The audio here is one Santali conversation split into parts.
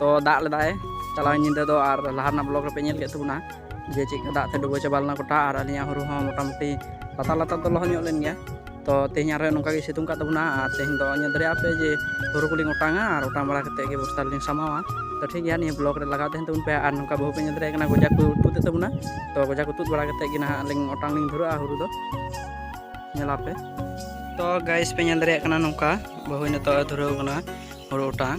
ᱛᱚ ᱫᱟᱜ ᱞᱮᱫᱟᱭ ᱪᱟᱞᱟᱣ ᱧᱤᱫᱟᱹ ᱫᱚ ᱟᱨ ᱞᱟᱦᱟ ᱨᱮᱱᱟᱜ ᱵᱞᱚᱜ ᱨᱮᱯᱮ ᱧᱮᱞ ᱠᱮᱫ ᱛᱟᱵᱚᱱᱟ ᱡᱮ ᱪᱮᱫ ᱫᱟᱜ ᱛᱮ ᱰᱩᱵᱟᱹ ᱪᱟᱵᱟ ᱞᱮᱱᱟ ᱜᱚᱴᱟ ᱟᱨ ᱟᱹᱞᱤᱧᱟᱜ ᱦᱩᱲᱩ ᱦᱚᱸ ᱢᱚᱴᱟᱢᱩᱴᱤ ᱞᱟᱛᱟᱨ ᱞᱟᱛᱟᱨ ᱫᱚ ᱞᱚᱦᱚᱫ ᱧᱚᱜ ᱞᱮᱱ ᱜᱮᱭᱟ ᱛᱚ ᱛᱮᱦᱮᱧ ᱟᱨᱦᱚᱸ ᱱᱚᱝᱠᱟ ᱜᱮ ᱥᱤᱛᱩᱝ ᱠᱟᱜ ᱛᱟᱵᱚᱱᱟ ᱟᱨ ᱛᱮᱦᱮᱧ ᱫᱚ ᱧᱮᱞ ᱫᱟᱲᱮᱭᱟᱜ ᱯᱮ ᱡᱮ ᱦᱩᱲᱩ ᱠᱚᱞᱤᱧ ᱚᱴᱟᱝᱟ ᱟᱨ ᱚᱴᱟᱝ ᱵᱟᱲᱟ ᱠᱟᱛᱮ ᱜᱮ ᱵᱚᱥᱛᱟ ᱨᱮᱞᱤᱧ ᱥᱟᱢᱟᱣᱟ ᱛᱚ ᱴᱷᱤᱠ ᱜᱮᱭᱟ ᱱᱤᱭᱟᱹ ᱵᱞᱚᱜ ᱨᱮ ᱞᱟᱜᱟᱣ ᱛᱟᱦᱮᱱ ᱛᱟᱵᱚᱱ ᱯᱮ ᱟᱨ ᱱᱚᱝᱠᱟ ᱵᱟᱹᱦᱩ ᱯᱮ ᱧᱮᱞ ᱫᱟᱲᱮᱭᱟᱜ ᱠᱟᱱᱟ ᱜᱚᱡᱟ ᱠᱚ ᱛᱩᱫ ᱮᱫ ᱛᱟᱵᱚᱱᱟ ᱛᱚ ᱜᱚᱡᱟ ᱠᱚ ᱛᱩᱫ ᱵᱟᱲᱟ ᱠᱟᱛᱮ ᱜᱮ ᱱᱟᱦᱟᱜ ᱞᱤᱧ ᱚᱴᱟᱝ ᱞᱤᱧ ᱫᱷᱩᱨᱟᱹᱜᱼᱟ ᱦᱩᱲᱩ ᱫᱚ ᱧᱮᱞᱟᱯᱮ ᱛᱚ ᱜᱟᱭᱤᱥ ᱯᱮ ᱧᱮᱞ ᱫᱟᱲᱮᱭᱟᱜ ᱠᱟᱱᱟ ᱱᱚᱝᱠᱟ ᱵᱟᱹᱦᱩ ᱱᱤᱛᱚᱜ ᱫᱷᱩᱨᱟᱹᱣ ᱠᱟᱱᱟ ᱦᱩᱲᱩ ᱚᱴᱟᱝ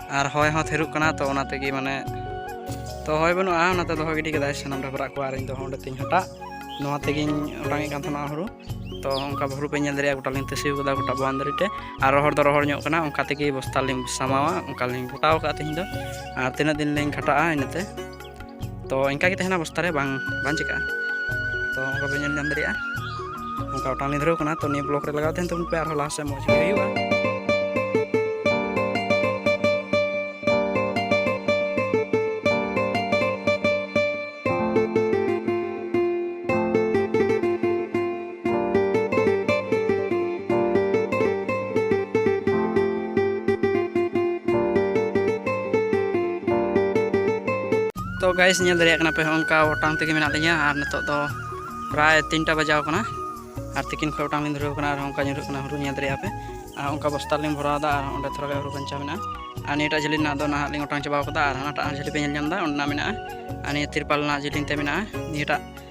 ᱟᱨ ᱦᱚᱭ ᱦᱚᱸ ᱛᱷᱤᱨᱩᱜ ᱠᱟᱱᱟ ᱛᱚ ᱚᱱᱟ ᱛᱮᱜᱮ ᱢᱟᱱᱮ ᱛᱚ ᱦᱚᱭ ᱵᱟᱹᱱᱩᱜᱼᱟ ᱚᱱᱟᱛᱮ ᱫᱚᱦᱚ ᱜᱤᱰᱤ ᱠᱮᱫᱟᱭ ᱥᱟᱱᱟᱢ ᱰᱟᱵᱨᱟᱜ ᱠᱚ ᱟᱨ ᱤᱧ ᱫᱚ ᱚᱸᱰᱮ ᱛᱤᱧ ᱦᱟᱴᱟᱜ ᱱᱚᱣᱟ ᱛᱮᱜᱮᱧ ᱚᱴᱟᱝᱮᱫ ᱠᱟᱱ ᱛᱟᱦᱮᱱᱟ ᱦᱩᱲᱩ ᱛᱚ ᱚᱱᱠᱟ ᱦᱩᱲᱩ ᱯᱮ ᱧᱮᱞ ᱫᱟᱲᱮᱭᱟᱜᱼᱟ ᱜᱚᱴᱟᱞᱤᱧ ᱛᱟᱹᱥᱤ ᱠᱟᱫᱟ ᱜᱚᱴᱟ ᱵᱟᱣᱩᱱᱰᱟᱨᱤ ᱛᱮ ᱟᱨ ᱨᱚᱦᱚᱲ ᱫᱚ ᱨᱚᱦᱚᱲ ᱧᱚᱜ ᱠᱟᱱᱟ ᱚᱱᱠᱟ ᱛᱮᱜᱮ ᱵᱚᱥᱛᱟ ᱞᱤᱧ ᱥᱟᱢᱟᱣᱟ ᱚᱱᱠᱟ ᱞᱤᱧ ᱜᱚᱴᱟᱣ ᱠᱟᱜᱼᱟ ᱛᱮᱦᱮᱧ ᱫᱚ ᱟᱨ ᱛᱤᱱᱟᱹᱜ ᱫᱤᱱ ᱞᱤᱧ ᱠᱷᱟᱴᱟᱜᱼᱟ ᱤᱱᱟᱹᱛᱮ ᱛᱚ ᱤᱱᱠᱟ ᱜᱮ ᱛᱟᱦᱮᱱᱟ ᱵᱚᱥᱛᱟ ᱨᱮ ᱵᱟᱝ ᱵᱟᱝ ᱪᱤᱠᱟᱹᱜᱼᱟ ᱛᱚ ᱚᱱᱠᱟ ᱯᱮ ᱧᱮᱞ ᱧᱟᱢ ᱫᱟᱲᱮᱭᱟᱜᱼᱟ ᱚᱱᱠᱟ ᱚᱴᱟᱝ ᱞᱤᱧ ᱫᱷᱩᱨᱟᱹᱣ ᱠᱟᱱᱟ ᱛᱚ ᱱᱤᱭᱟᱹ ᱵᱞᱚᱠ ᱨᱮ ᱞᱟᱜᱟᱣ ᱛᱟᱦᱮᱱ ᱛᱟᱵᱚᱱ ᱯᱮ ᱟᱨᱦᱚᱸ ᱞᱟᱦᱟ ᱥᱮᱫ ᱢᱚᱡᱽ ᱜᱮ ᱦᱩᱭᱩᱜᱼᱟ ᱛᱚ ᱜᱟᱭᱤᱥ ᱧᱮᱞ ᱫᱟᱲᱮᱭᱟᱜ ᱠᱟᱱᱟ ᱯᱮ ᱚᱱᱠᱟ ᱚᱴᱟᱝ ᱛᱮᱜᱮ ᱢᱮᱱᱟᱜ ᱞᱤᱧᱟ ᱟᱨ ᱱᱤᱛᱚᱜ ᱫᱚ ᱯᱨᱟᱭ ᱛᱤᱱᱴᱟ ᱵᱟᱡᱟᱣ ᱠᱟᱱᱟ ᱟᱨ ᱛᱤᱠᱤᱱ ᱠᱷᱚᱱ ᱚᱴᱟᱝ ᱞᱤᱧ ᱫᱷᱩᱨᱟᱹᱣ ᱠᱟᱱᱟ ᱟᱨ ᱚᱱᱠᱟ ᱧᱩᱨᱩᱜ ᱠᱟᱱᱟ ᱦᱩᱲᱩ ᱧᱮᱞ ᱫᱟᱲᱮᱭᱟᱜ ᱯᱮ ᱟᱨ ᱚᱱᱠᱟ ᱵᱚᱥᱛᱟ ᱞᱤᱧ ᱵᱷᱚᱨᱟᱣᱫᱟ ᱟᱨ ᱚᱸᱰᱮ ᱛᱷᱚᱲᱟ ᱜᱟᱱ ᱦᱩᱲᱩ ᱵᱟᱧᱪᱟᱣ ᱢᱮᱱᱟᱜᱼᱟ ᱟᱨ ᱱᱤᱭᱟᱹᱴᱟᱜ ᱡᱷᱟᱹᱞᱤ ᱨᱮᱱᱟᱜ ᱫᱚ ᱱᱟᱦᱟᱜ ᱞᱤᱧ ᱚᱴᱟᱝ ᱪᱟᱵᱟᱣ ᱠᱟᱫᱟ ᱟᱨ ᱦᱟᱱᱟᱴᱟᱜ ᱡᱷᱟᱹᱞᱤ ᱯᱮ ᱧᱮᱞ ᱧᱟᱢᱫᱟ ᱚᱸᱰᱮᱱᱟᱜ ᱢᱮᱱᱟᱜᱼᱟ ᱟᱨ ᱱᱤᱭᱟᱹ ᱛᱤᱨᱯᱟᱞ ᱨᱮᱱᱟᱜ ᱡᱤᱞᱤᱧ ᱛᱮ ᱢᱮᱱᱟᱜᱼᱟ ᱱᱤᱭᱟᱹᱴᱟᱜ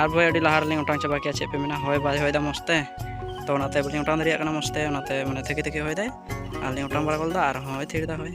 ᱟᱨ ᱵᱚᱭ ᱟᱹᱰᱤ ᱞᱟᱦᱟ ᱨᱮᱞᱤᱧ ᱚᱴᱟᱝ ᱪᱟᱵᱟ ᱠᱮᱜᱼᱟ ᱪᱮᱫ ᱯᱮ ᱢᱮᱱᱟ ᱦᱚᱭ ᱵᱟᱭ ᱦᱚᱭᱫᱟ ᱢᱚᱡᱽ ᱛᱮ ᱛᱚ ᱚᱱᱟᱛᱮ ᱵᱟᱹᱞᱤᱧ ᱚᱴᱟᱝ ᱫᱟᱲᱮᱭᱟᱜ ᱠᱟᱱᱟ ᱢᱚᱡᱽ ᱛᱮ ᱚᱱᱟᱛᱮ ᱢᱟᱱᱮ ᱛᱷᱮᱠᱮ ᱛᱷᱮᱠᱮ ᱦᱚᱭᱫᱟᱭ ᱟᱨᱞᱤᱧ ᱚᱴᱟᱝ ᱵᱟᱲᱟ ᱜᱚᱫ ᱮᱫᱟ ᱟᱨ ᱦᱚᱸᱭ ᱛᱷᱤᱨ ᱮᱫᱟ ᱦᱚᱭ